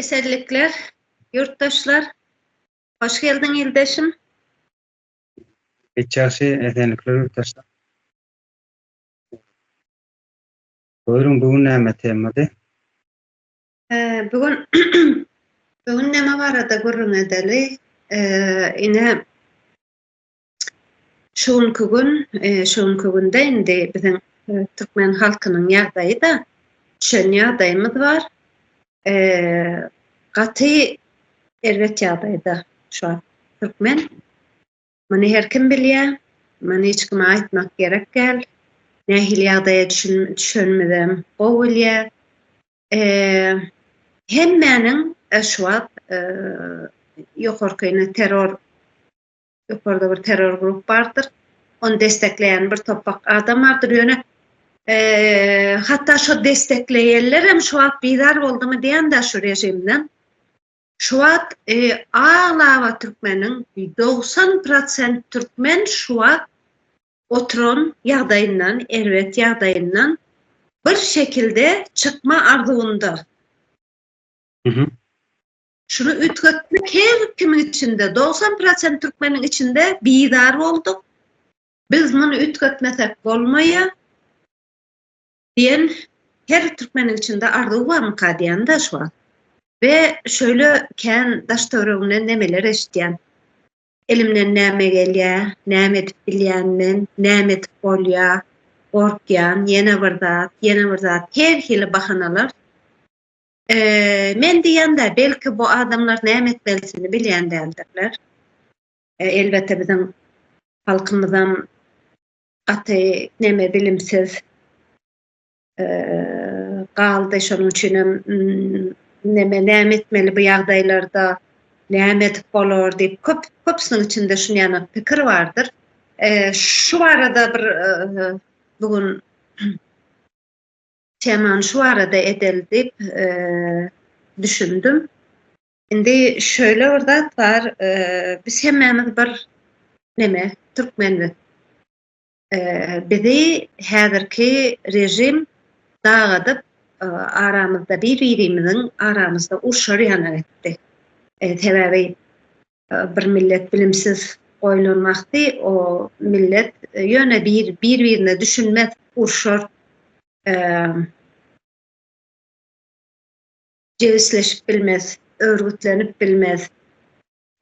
Esenlikler, ýurtdaşlar! Hoş geldiň, ildeşim! Hiç ýagşy, esenlikler, ýurtdaşlar! Buyruň, bu gün näme temady? Bu gün bu gün näme barada gürrüň edeli? Ine, Şu günki gün, şu günki günde indi biziň türkmen halkynyň ýagdaýy-da düşen ýagdaýymyz bar. Gaty erbet ýagdaýda şu wagt türkmen. Muny her kim bilýär. Muny hiç kime aýtmak gerek däl. Nähili ýagdaýa düşenimizem gowy bilýär. Hemmäniň şu wagt ýokarky terror ýokarda bir terror grup bardyr. Ony destekleýän bir topak adam bardyr. Ýöne eee hatda şo destekleýenler hem şu wagt bizar boldumy diýende şu režimden. Şu wagt eee aglaba türkmeniň 90% türkmen şu wagt oturan ýagdaýyndan, erbet ýagdaýyndan bir şekilde çykma arzuwynda. Şuny üýtgetmek her kimiň içinde, dogsan prosent türkmeniň içinde bizar bolduk. Biz muny üýtgetmesek bolmaýar. Diýen her türkmeniň içinde arzuw barmyka diýende şu wagt. We şöyle kän daş-töwregimden nemeler eşitýän. Elimden näme gelýär, näme edip bilýän men, näme edip bolýar, gorkýan, ýene bir zat, ýene bir zat, her hili bahanalar. Eee, men diýende, belki bu adamlar näme etmelidigini bilýän däldirler. E, elbetde biziň halkymyzam gaty näme bilimsiz eee galdy şonuň üçin hem näme näme etmeli bu ýagdaýlarda näme edip bolar diýip köp köpüsiniň içinde şuny ýana pikir bardyr. Eee şu barada bir e, bu gün Temany şu arada edeli diýip düşündim. Indi şöyle bir zat bar, biz hemmämiz bir neme, türkmenlik. Bizi häzirki rejim dagadyp, aramyzda bir-birimiziň aramyzda urşar ýaly etdi. Sebäbi Bir millet bilimsiz goýlan wagty o millet ýöne bir bir birine düşünmez urşar jebisleşip bilmez örgütlenip bilmez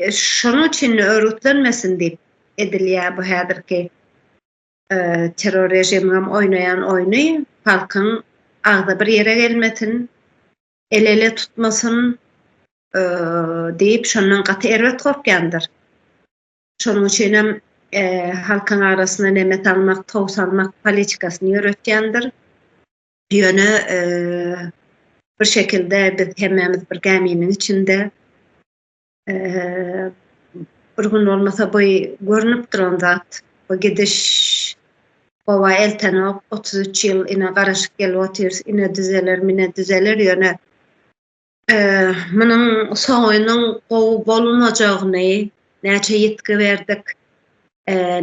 şonuň üçin örgütlenmesin diýip edilýär bu häzirki terror režiminiň oýnaýan oýny halkyň agzybir ýere gelmesin ele-ele tutmasyn diýip, şondan gaty erbet gorkýandyr. Şonuň üçin hem halkyň arasyna neme salmak, tow salmak politikasyny ýöretýändir. Ýöne bir şekilde biz hemmämiz bir gäminiň içinde. bir gün bolmasa bu görünip duran zat bu gidiş baba eltenok otuz üç ýyl ine garaşyp gelip otyr ine düzeler mine düzeler ýöne munuň soňunyň gowy bolmajagyny näçe ýitgi berdik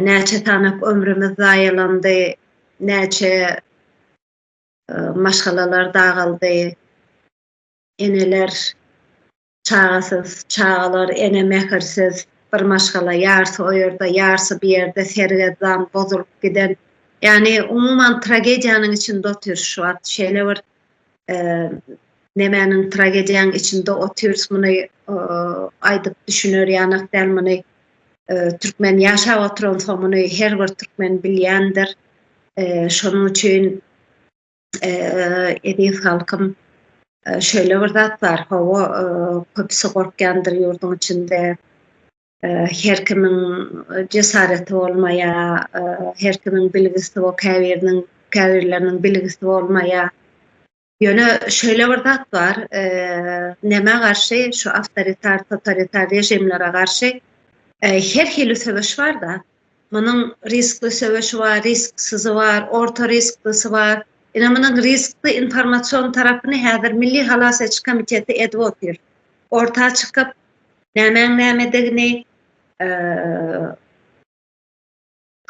näçe sanak ömrümiz zaýalandy näçe maşgalalar dagaldy eneler Çagasyz çagalar, ene mähirsiz, bir maşgala ýarsy o ýerde, ýarsy bu ýerde sergezdan bozulyp giden, ýagny umuman tragediýanyň içinde otyrys şu wagt, şeýle bir nemäniň tragediýanyň içinde otyrys, muny aýdyp düşüner ýanak däl, muny türkmen ýaşap oturansoň muny her bir türkmen bilýändir, şonuň üçin Eziz halkym, şöyle bir zat bar, hawa, köpüsi gorkýandyr ýurduň içinde, her kimiň jesareti bolmaýar, her kimiň bilgisi bol, käbiriniň, käbirleriniň bilgisi bolmaýar. Ýöne şöyle bir zat bar, nämä garşy, şu awtoritar, totalitar režimlere garşy her hili söweş bar-da. Munuň riskli söweşi bar, risksizi bar, orta risklisy bar. Ine, munuň riskli informasion tarapyny häzir Milli halas ediş komiteti edip otyr. Orta çykyp, nämäň nämedigini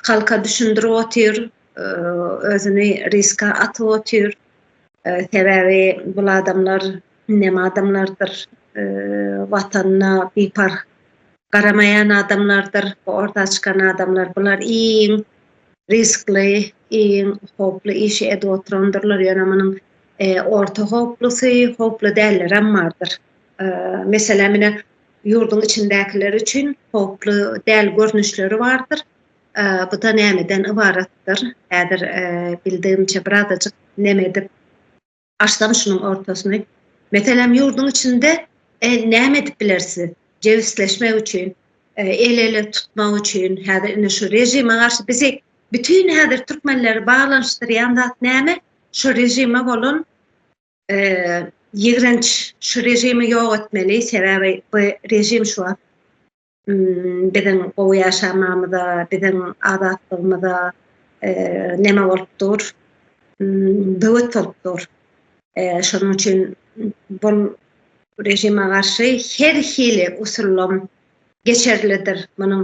halka düşündirip otyr, özüni riske atyp otyr. Sebäbi bul adamlar Indem adamlardyr Watanyna biparh garamaýan adamlardyr bu orta çykan adamlar. Bular iň riskli, iň howply işi edip oturandyrlar. Ýöne munuň orta howplusy, howply dällerem bardyr. Meselem ine ýurduň içindäkiler üçin howply däl görnüşleri bardyr. Bu-da nämeden ybaratdyr? Häzir bildigimçe birazajyk nem edip Açsam şunuň ortasyny. Meselem, ýurduň içinde näme edip bileris biz? Jebisleşmek üçin, el-ele tutmak üçin, häzir indi şu režime garşy bizi bütin häzir türkmenleri baglanyşdyrýan zat näme? Şu režime bolan ýigrenç, şu režimi ýok etmeli, sebäbi bu režim şu wagt Biziň gowy ýaşamamyza, biziň azatlygymyza neme bolup dur? Böwet bolup dur. Şonuň üçin bu režime garşy her hili usullam geçerlidir. Munuň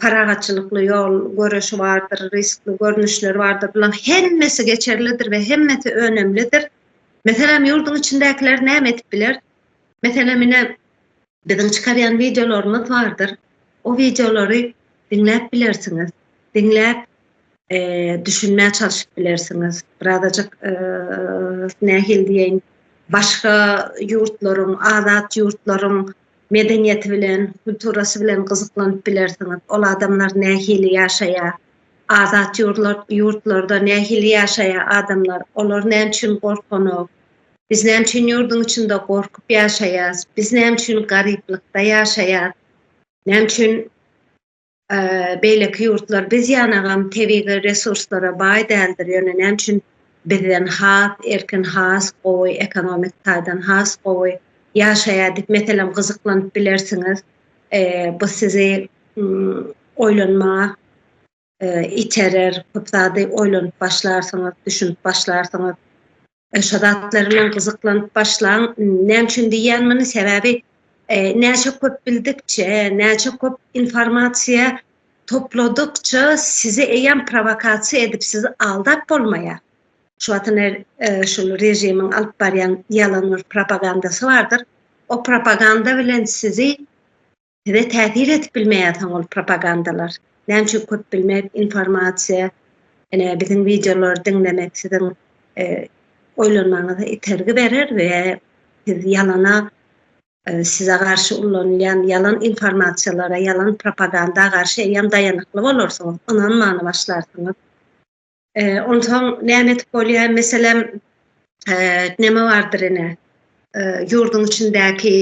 parahatçylykly ýol göreşi bardyr, riskli görnüşleri bardyr. Bularyň hemmesi geçerlidir we hemmesi önümlidir. Meselem, ýurduň içindäkiler näme edip biler? Meselem, ine, Biziň çykarýan wideolarymyz bardyr. O wideolary diňläp bilersiňiz. Diňläp düşünmä çalşyp bilersiňiz. Birazajyk nähili diýeýin başga ýurtlaryň, azat ýurtlaryň medeniýeti bilen, kulturasy bilen gyzyklanyp bilersiňiz. Ol adamlar nähili ýaşaýar? Azat ýurtlarda nähili ýaşaýar adamlar? Olar näme üçin gorkanok? Biz näme üçin ýurduň içinde gorkup ýaşaýas? Biz näme üçin garyplykda ýaşaýas? Näme üçin beýleki ýurtlar biz ýanagam tebigy resurslara baý däldir, ýöne näme üçin bizden has erkin, has gowy, ekonomik taýdan has gowy ýaşaýar diýip, meselem, gyzyklanyp bilersiňiz. Bu sizi oýlanmaga iterer, köp zady oýlanyp başlarsyňyz, düşünip başlarsyňyz. Şo zatlar bilen gyzyklanyp başlaň. Näme üçin diýýän muny? Sebäbi näçe köp bildikçe, näçe köp informasiýa topladykça sizi eýýäm prowokasiýa edip sizi aldap bolmaýar. Şu wagtyň şol režimiň alyp barýan ýalan bir propagandasy bardyr. O propaganda bilen sizi size täsir edip bilmeýär soň ol propagandalar. Näme üçin köp bilmek, informasiýa, ene biziň wideolary diňlemek siziň e, oýlanmaňyza itergi berer we siz ýalana e, size garşy ulanylýan ýalan informasiýalara, ýalan propaganda garşy eýýäm daýanykly bolarsyňyz, ynanmany başlarsyňyz. Onsoň näme edip bolýar? Meselem, näme bardyr ine, ýurduň içindäki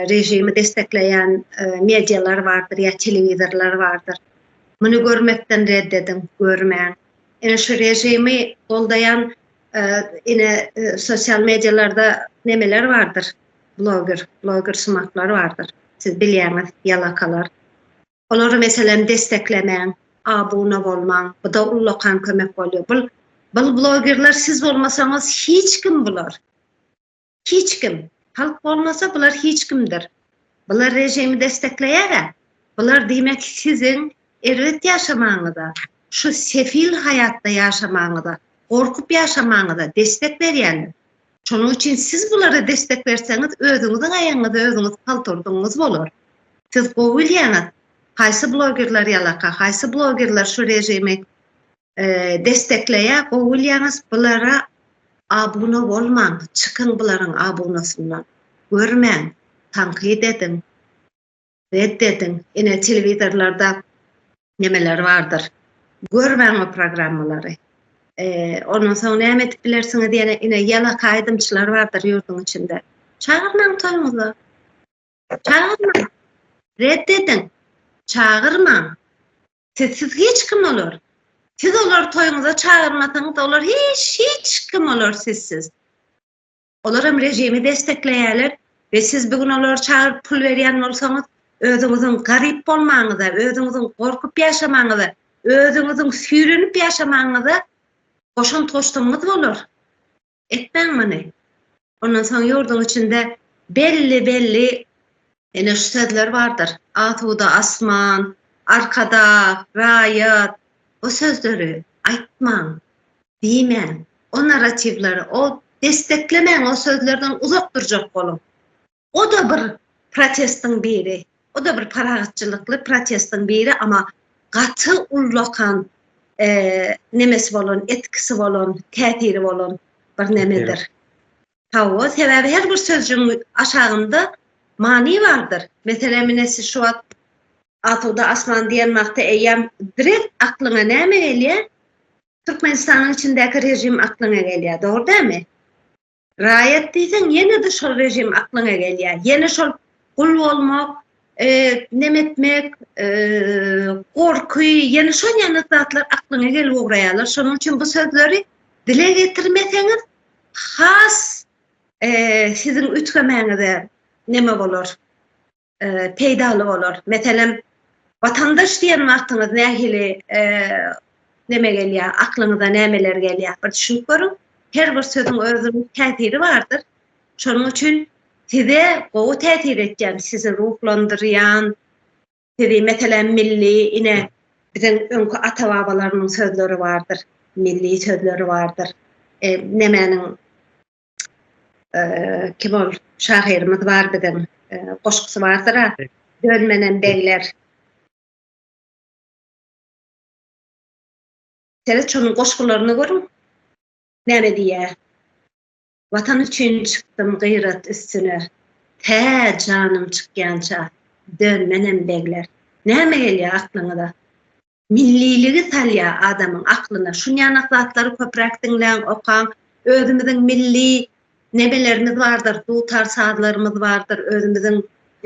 režimi dessekleýän medialar bardyr ýa telewizorlar bardyr. Muny görmekden ret ediň, görmäň. Ine şu režimi goldaýan ine sosial medialarda nemeler bardyr, bloger, bloger sumaklar bardyr. Siz bilýäňiz, ýalakalar. Olary meselem desteklemäň, abuna bolmaň, buda ullakan kömek bolýar. Bul bul blogerler siz bolmasaňyz hiç kim bular. Hiç kim. Halk bolmasa bular hiç kimdir. Bular rejimi destekleýära. Bular diýmek siziň erbet ýaşamagyňyza, şu sefil haýatda ýaşamagyňyza, gorkup ýaşamagyňyza destek berýänler. Şonuň üçin siz bulara destek berseňiz, özüňiziň aýagyňyza özüňiz palt urdugyňyz bolar. Siz gowy bilýäňiz, haýsy blogerler ýalaka, haýsy blogerler şu režimi destekleýär, gowy bilýäňiz, bulara abuna bolmaň, çykyň bularyň abunasyndan, görmäň, tankyt ediň. Ret ediň. Ine telewizorlarda nemeler bardyr. Görmäň o programmalary. Ondan soň näme edip bilersiňiz ýene ine ýalaka aýdymçylar bardyr ýurduň içinde. Çagyrmaň toýuňyza. Çagyrmaň. Ret ediň. Çagyrmaň. Siz siz hiç kim olar. Siz olar toýuňyza çagyrmasaňyz olar hiç hiç kim olar sizsiz. Olar hem rejimi dessekleýärler we siz bu gün olary çagyryp pul berýän bolsaňyz, özüňiziň garyp bolmagyňyza, özüňiziň gorkup ýaşamagyňyza, özüňiziň süýrenip ýaşamagyňyza goşant goşsaňyz bolar. Etmäň muny. Ondan soň ýurduň içinde belli-belli ene şu sözler bardyr. Asuda asman, arkadag, raýat. Bu sözleri aýtmaň. Diýmäň, o narratiwleri, o desteklemäň, o sözlerden uzak durjak boluň. O-da bir protestiň biri, o-da bir parahatçylykly protestiň biri, amma gaty ullakan nemesi bolan, etkisi bolan, täsiri bolan bir nemedir. Hawa, sebäbi her bir sözjügiň aşagynda many bardyr. Meselem, ine siz şu wagt Asuda asman diýen wagty eýýäm direkt aklyňa näme gelýär? Türkmenistanyň içindäki režim aklyňa gelýär, dogry dälmi? Raýat diýseň, ýene-de şol režim aklyňa gelýär. Ýene şol gul bolmak, e, neme etmek, e, gorky, ýene şol ýaly zatlar aklyňa gelip ugraýarlar. Şonuň üçin bu sözleri dile getirmeseňiz, has e, siziň üýtgemäňize neme bolar? peýdaly bolar. Meselem, watandaş diýen wagtyňyz nähili neme gelýär, aklyňyza nämeler gelýär? Bir düşünip görüň. Her bir sözüň özüniň täsiri bardyr. Şonuň üçin size gowy täsir etýän, sizi ruhlandyrýan, sizi meselem milli ine biziň öňki ata-babalarymyň sözleri bardyr, milli sözleri bardyr. Nemäniň kim ol şahyrymyz bar biziň goşgusy bardyr a dönmenem begler Seret şonuň goşgularyny görüň. Näme diýýär? Watan üçin çykdym gyrat üstüne. Tä janym çykýança dönmenem begler. Näme gelýär aklyňyza? Milliligi salýa adamyň aklyna. Şunýanak zatlary köpräk diňläň, okaň. Özümiziň milli nemelerimiz bardyr, dutar sazlarymyz bardyr, özümiziň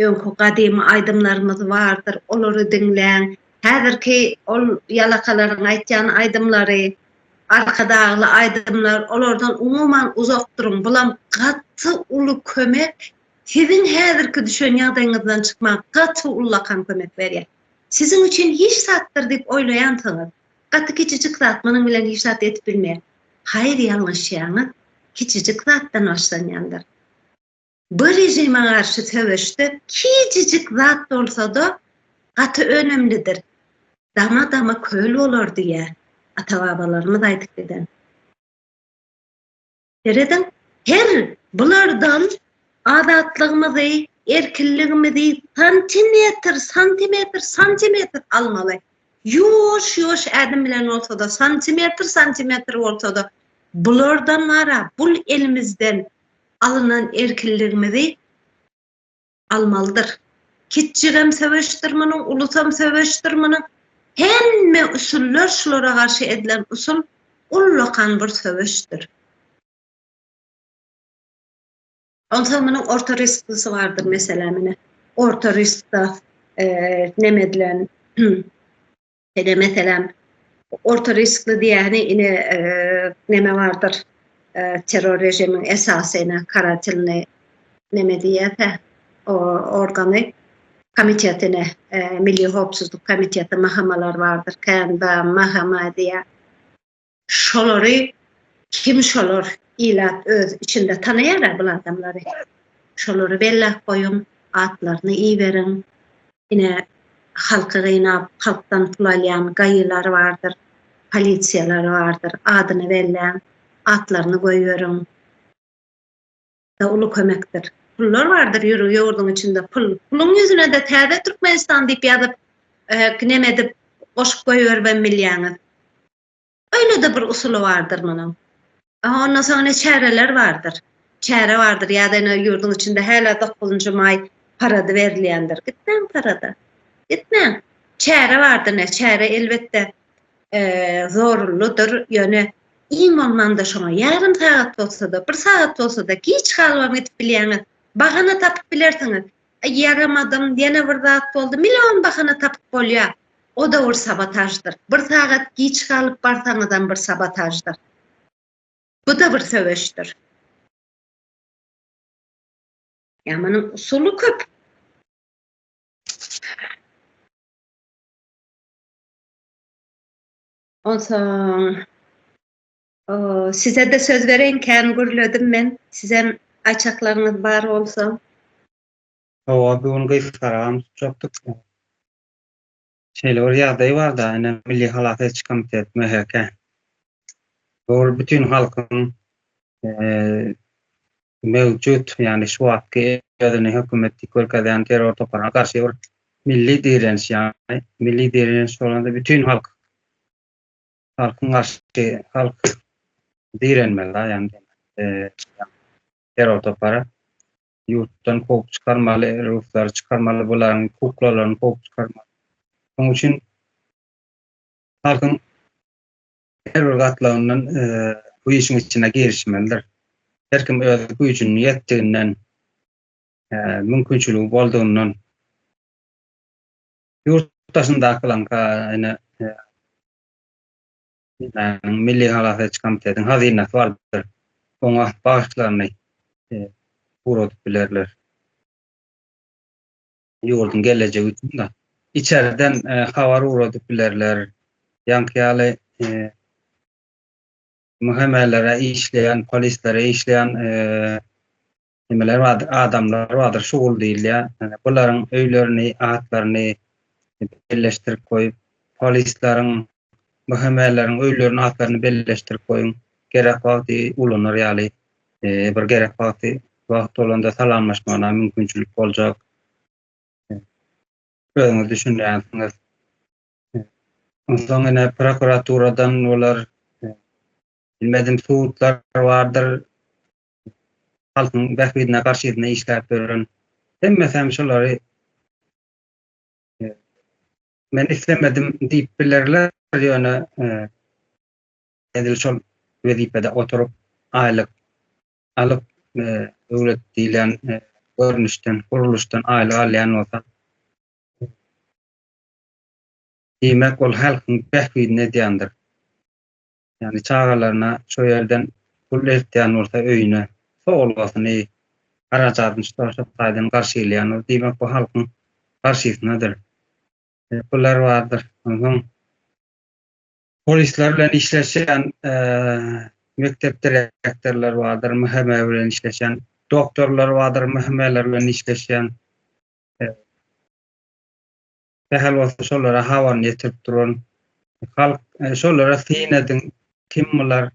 öňki gadymy aýdymlarymyz bardyr, olary diňläň. Häzirki ol ýalakalaryň aýtýan aýdymlary, Arkadagly aýdymlar, olardan umuman uzak duruň. Bulam gaty uly kömek, siziň häzirki düşen ýagdaýyňyzdan çykmaga gaty ullakan kömek berýär. Siziň üçin hiç zatdyr diýip oýlaýansyňyz. Gaty kiçijik zat, munuň bilen hiç zat edip bilmeýän. Haýyr ýalňyşýaňyz, kiçijik zatdan başlanýandyr. Bu režime garşy söweşde kijijik zat bolsada gaty önümlidir. Dama dama köl bolar diýýär ata babalarymyz aýdyp giden. Serediň, her bulardan azatlygymyzy, erkinligimizi santimetr, santimetr, santimetr almaly. Ýuwaş-ýuwaş ädim bilen bolsa-da, santimetr, santimetr bolsa-da, bulardan wara, bul elimizden alynan erkinligimizi almalydyr. Kiçjigem söweşdir munuň, ulusam söweşdir munuň. Hemme usullar şulara garşy edilen usul ullakan bir söweşdir. Onsoň munuň orta risklisi bardyr meselem ine. Orta riskda neme edilen Ine meselem orta riskli diýýäni ine neme bardyr terror režimiň esasy ine karatilni neme diýýärkä o organy komitetine milli howpsuzlyk komiteti mahamalar bardyr kän ba mahama diýýär Şolary kim şolar ilat öz içinde tanaýara bul adamlary şolary belläp goýuň atlaryny iberiň ine halky gynap halkdan pul alýan gaýylar bardyr polisiýalar bardyr adyny belläň atlaryny goýberiň. da uly kömekdir. Pullar bardyr ýürüp ýurduň içinde pul. Puluň ýüzünede täze Türkmenistan diýip ýazyp neme edip goşup goýberip hem bilýäňiz. Öýlede bir usuly bardyr munuň. Aha ondan soň ine çäreler bardyr. Çäre bardyr ýa-da ine ýurduň içinde häli dokuzynjy maý parady berilýändir. Gitmäň parada. Gitmäň. Çäre bardyr ne çäre elbetde. zorunlydyr, ýöne iň bolmanda şoňa ýarym sagat bolsa-da, bir sagat bolsa-da giç galmam gidip bilýäňiz. Bahana tapyp bilersiňiz. Ýaramadym, ýene bir zat boldy, million bahana tapyp bolýar. O-da bir sabotaždyr. Bir sagat giç galyp barsaňyzam bir sabotaždyr. Bu-da bir söweşdir. Ýa munuň usuly köp. Onsoň size-de söz bereýin, kän gürledim men. Sizem aýtjaklaryňyz bar bolsa. Hawa, bu gün gysgaram tutjakdyk. Şeýle bir ýagdaý bar-da, ine, Milli halas ediş komiteti, MHK. Ol bütin halkyň möwjut, ýagny şu wagtky özüni hökümet diýip görkezýän terror toparyna garşy bir milli direniş, ýagny milli direniş bolanda bütin halk, halkyň garşy, halk direnmeli da, ýagny terror topary ýurtdan kowup çykarmaly, ruslary çykarmaly, bularyň kuklalaryny kowup çykarmaly. Şonuň üçin halkyň Her bir gatlagyndan bu işiň içine girişmelidir. Her kim öz güýjüniň ýetdiginden, mümkinçiligi boldugyndan ýurt daşyndakylaňka ene Milli halas ediş komitetiň hazynasy bardyr. Oňa bagyşlaryny ugradyp bilerler. ýurduň gelejegi üçin-de içerden habar ugradyp bilerler, ýaňky ýaly MHM-lere işleýän, polislere işleýän nimeler bardyr, adamlar bardyr, şugul diýilýär. Ýani bularyň öýlerini, atlaryny birleşdirip goýup, polisleriň BHM-leriň öýleriniň atlaryny belleşdirip goýuň. Gerek wagty ulanar ýaly bir gerek wagty wagt bolanda salamlaşmagyna mümkinçilik boljak. Özüňiz düşünýänsiňiz. Onsoň ine prokuraturadan olar bilmedim sudlar bardyr. Halkyň bähbidine garşysyna işläp ýören hemmesi hem şolary Men islemedim diýip bilerler, ýöne edil şol wezipede oturyp, aýlyk alyp, döwlet diýlen görnüşden, gurluşdan aýlyk alýan bolsa, diýmek, ol halkyň bähbidini edýändir. Ýagny çagalaryna şo ýerden pul eltýän bolsa öýüne sowulgasyny, harajadyny şu taýdan şu taýdan garşylaýan bolsa diýmek bu halkyň garşysynadyr. Pular bardyr. Onsoň polisler bilen işleşen mekdep direktorlary bardyr, MHM bilen işleşen doktorlar bardyr, MHM-ler bilen işleşen. sähel bolsa şolara habaryny ýetirip duran halk e, şolara syn ediň kim bular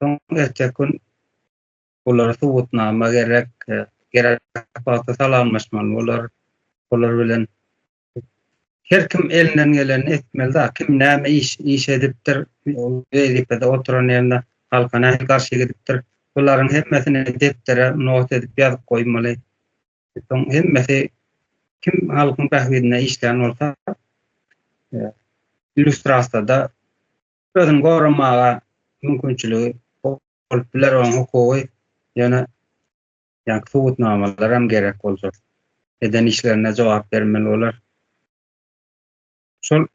soň erteki gün bulara subutnama gerek e, gerek wagtda salamlaşmaly bular bular bilen her kim elinden geleni etmeli da kim näme iş iş edipdir wezipede oturan ýerinde halka näme garşy gidipdir bularyň hemmesini depdere not edip ýazyp goýmaly Soň hemmesi kim halkyň bähbidine işlän bolsa, e, illüstrasiýada özüni goramaga mümkinçiligi bolup biler, onuň hukugy ýöne ýa subutnamalar hem gerek boljak. Eden işlerine jogap bermeli bolar. Şol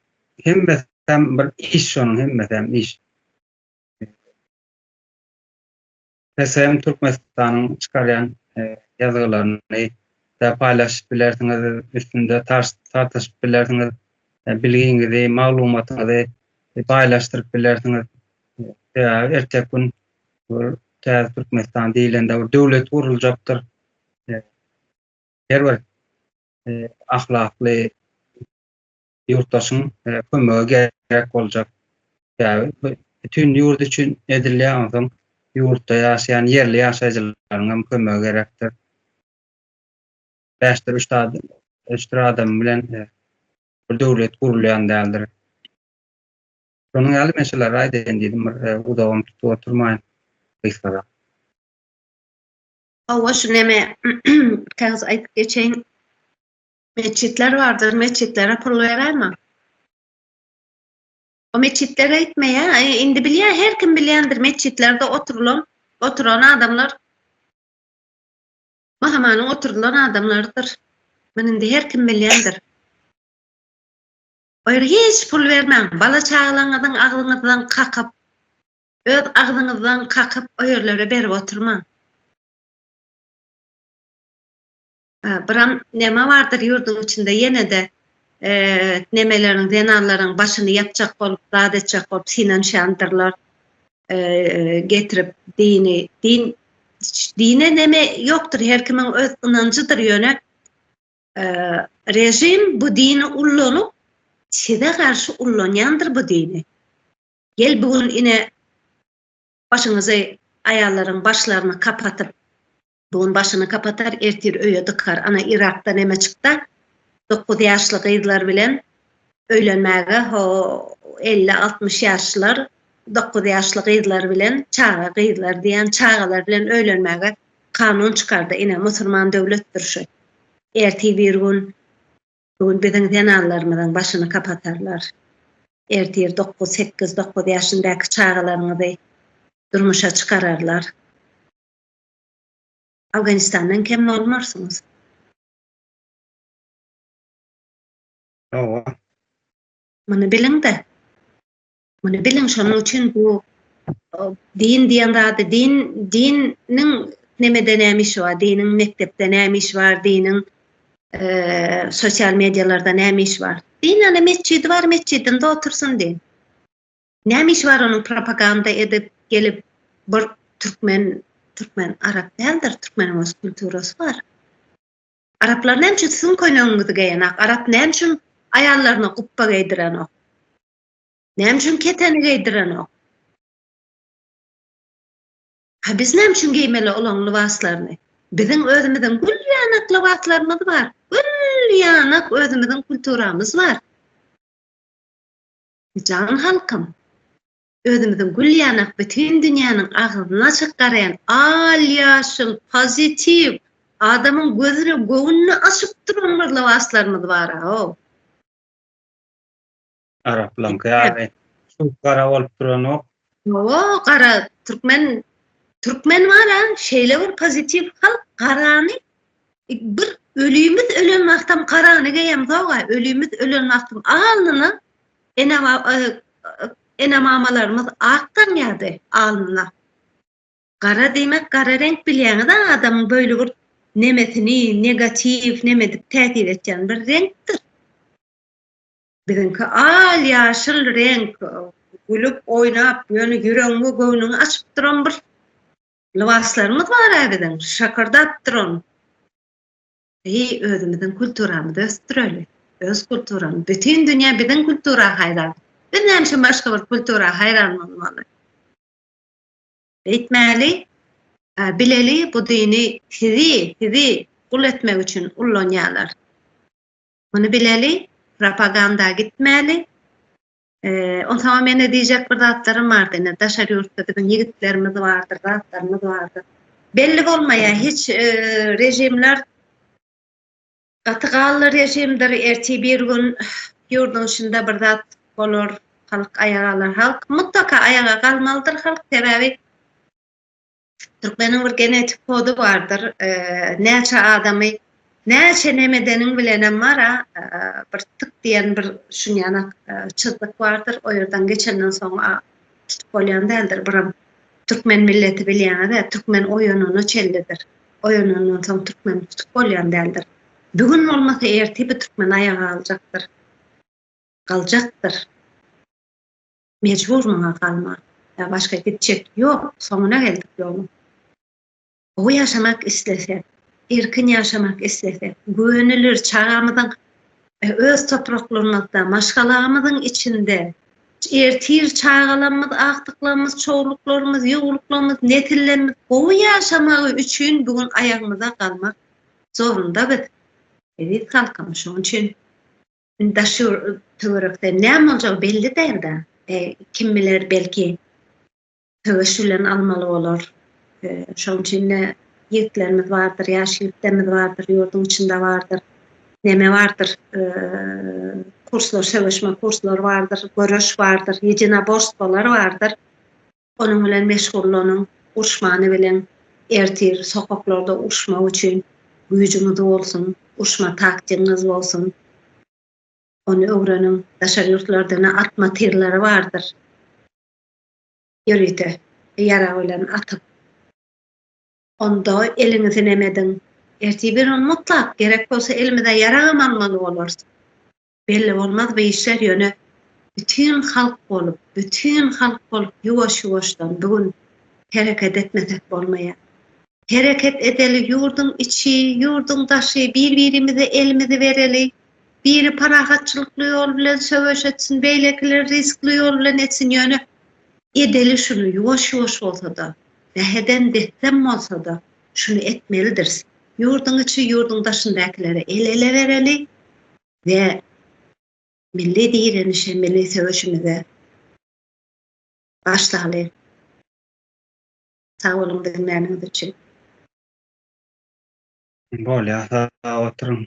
hemmesi hem bir iş, şonuň hemmesi hem iş. TSM Türkmenistanyň çykarýan e, ýazgylaryny da paýlaşyp bilersiňiz, üstünde tartyşyp bilersiňiz, e, bilgiňizi, maglumatyňyzy e, paýlaşdyryp bilersiňiz. Sebäbi erteki gün bir täze Türkmenistan diýlende bir döwlet guruljakdyr. Her bir ahlakly ýurtdaşyň kömegi gerek boljak. Sebäbi bu bütin ýurt üçin edilýär, onsoň ýurtda ýaşaýan ýerli ýaşaýjylaryň hem kömegi gerekdir. Bäşdir üç adam, üç adam bilen bir döwlet gurulýan däldir. Şonuň ýaly men şular aýdaýyn diýdim, bir uzagam tutup oturmaýyn, gysgara. Hawa, şu neme, kägäs aýdyp geçeýin. Meçitler bardyr, meçitlere pul beräýme. O meçitler aýtmaýa, e, indi bilýä, her kim bilýändir, meçitlerde oturylan, oturan adamlar Mahamanyň oturylan adamlarydyr. Muny indi her kim bilýändir. O ýere hiç pul bermäň, bala çagalaňyzyň agzyňyzdan kakyp, öz agzyňyzdan kakyp o ýerlere berip oturmaň. Biram neme bardyr ýurduň içinde ýene-de nemeleriň, zenanlaryň başyny ýapjak bolup, zat etjek bolup synanyşýandyrlar. Getirip dini, din, dine neme ýokdur, her kimiň öz ynanjydyr, ýöne režim bu dini ullanyp, size garşy ullanýandyr bu dini. Gel bu gün ine başyňyzy aýallaryň başlaryny kapatyp, Bu gün başyny kapatar, ertir öýe dykar. Ana Yrakda neme çykda? Dokuz ýaşly gyzlar bilen öýlenmäge ho 50-60 ýaşlar, dokuz ýaşly gyzlar bilen, çaga gyzlar diýen çagalar bilen öýlenmäge kanun çykardy. Ine musulman döwletdir şu. Ertir bir gün bu gün biziň zenanlarymyzyň başyny kapatarlar. Ertir 9-8-9 ýaşyndaky çagalaryňyzy durmuşa çykararlar. Awganistandan kem bolmarsyňyz. Hawa. Muny biliň-de. Muny biliň, şonuň üçin bu din diýen zady, din, diniň nemede näme işi bar, diniň mekdepde näme işi bar, diniň eee sosial mediýalarda näme işi bar. Din ana metjidi bar, metjidinde otursyn diýiň. Näme işi bar onuň propaganda edip gelip bir türkmen türkmen arap däldir türkmeniň öz kulturasy bar. Araplar näme üçin siziň köýnegiňizi geýenak? Arap näme üçin aýallaryna gupba geýdirenok? Näme üçin keteni geýdirenok? Ha biz näme üçin geýmeli olaň lybaslaryny? Biziň özümiziň gül ýanak lybaslarymyz bar. Gül ýanak özümiziň kulturamyz bar. Jan halkym! Özümiziň gül ýanak bütin dünýäniň agzyny açyp garaýan al ýaşyl, pozitiw, adamyň gözüni, göwnüni açyp duran bir lybaslarymyz bar-ow! Araplaňky ýaly, çüwk gara bolup duranok, Hawa, gara türkmen türkmen bar-a, şeýle bir pozitiw halk, garany bir ölümiz ölen wagtam garany geýemzok-a, ölümiz ölen wagtam alnyna ene ene-mamalarymyz ak tanýardy alnyna. Gara diýmek gara reňk bilýäňiz-ä adamyň böýli bir nemesini negatiw neme edip täsir etýän bir reňkdir. Biziňki al ýaşyl reňk, gülüp oýnap, ýöne ýüregiň we göwnüňi açyp duran bir lybaslarymyz bar-a biziň, şakardap duran. Eý, özümiziň kulturamyzy ösdüreli. Öz kulturam, bütin dünýä biziň kultura haýran. Biz näme üçin başga bir kultura haýran bolmaly? Beýtmäli, bileli bu dini sizi, sizi gul etmek üçin ullanýarlar. Muny bileli, propaganda gitmäli. Eee, onsoň meni diýjek bir zatlarym bardy, ine daşary ýurtda biziň ýigitlerimiz bardyr, zatlarymyz bardyr. Belli bolmaýar, hiç režimler gaty gally režimdir, ertir bir gün ýurduň içinde bir zat bolar, halk aýaga galar. Halk mutlaka aýaga galmalydyr halk, sebäbi Türkmeniň bir genetik kody bardyr. Näçe adamy näçe nemedeniň bilenem mara bir tık diýen bir şunýana çyzdyk bardyr. O ýerden geçenden soň tutup bolýan däldir. Biram türkmen milleti bilýäňiz-ä, türkmen oýanana çellidir. Oýanandan soň türkmeni tutup bolýan däldir. Bu gün bolmasa ertir bu türkmen aýaga galjakdyr. Galjakdyr. Mejbur muňa galma. Ýa başga gitjek ýok, soňuna geldik ýoluň. Gowy ýaşamak islesek, erkin ýaşamak islesek, güwenilir çagamyzyň öz topraklarymyzda, maşgalamyzyň içinde, ertir çagalarymyz, agtyklarymyz, çowluklarymyz, ýuwluklarymyz, nesillerimiz gowy ýaşamagy üçin bu gün aýagymyza galmak zorunda biz, eziz halkym. Şonuň üçin Daşy töwerekde näme boljagy belli däl-de. Kim biler, belki söweş bilen almaly bolar. Şonuň üçin-de ýigitlerimiz bardyr, ýaş ýigitlerimiz bardyr, ýurduň içinde bardyr. Näme bardyr, kurslar, söweşme kurslary bardyr, göreş bardyr, ýedinaborstwolar bardyr. Onuň bilen meşgullanyň, urşmany bilen ertir sokaklarda urşmak üçin güýjüňiz bolsun, urşma taktigiňiz bolsun. Ony öwreniň. Daşary ýurtlarda ne atma tyrlary bardyr. Ýörite ýarag bilen atyp. Onda eliňizi nem ediň. Ertir bir gün mutlak gerek bolsa elimize ýaragam almaly bolarys. belli bolmaz bu işler ýöne bütin halk bolup, bütin halk bolup ýuwaş-ýuwaşdan bu gün hereket etmesek bolmaýar. Hereket edeli ýurduň içi, ýurduň daşy, bir-birimize elimizi bereli, biri parahatçylykly ýol bilen söweş etsin, beýlekiler rizikli ýol bilen etsin ýöne edeli şuny ýuwaş-ýuwaş bolsa-da, zäheden dessem bolsa-da, şuny etmelidiris, ýurduň içi, ýurduň daşyndakylara el-ele bereli we milli direnişe, milli söweşimize başlaly. Sag boluň diňläniňiz üçin. Bolýar, sag oturyň.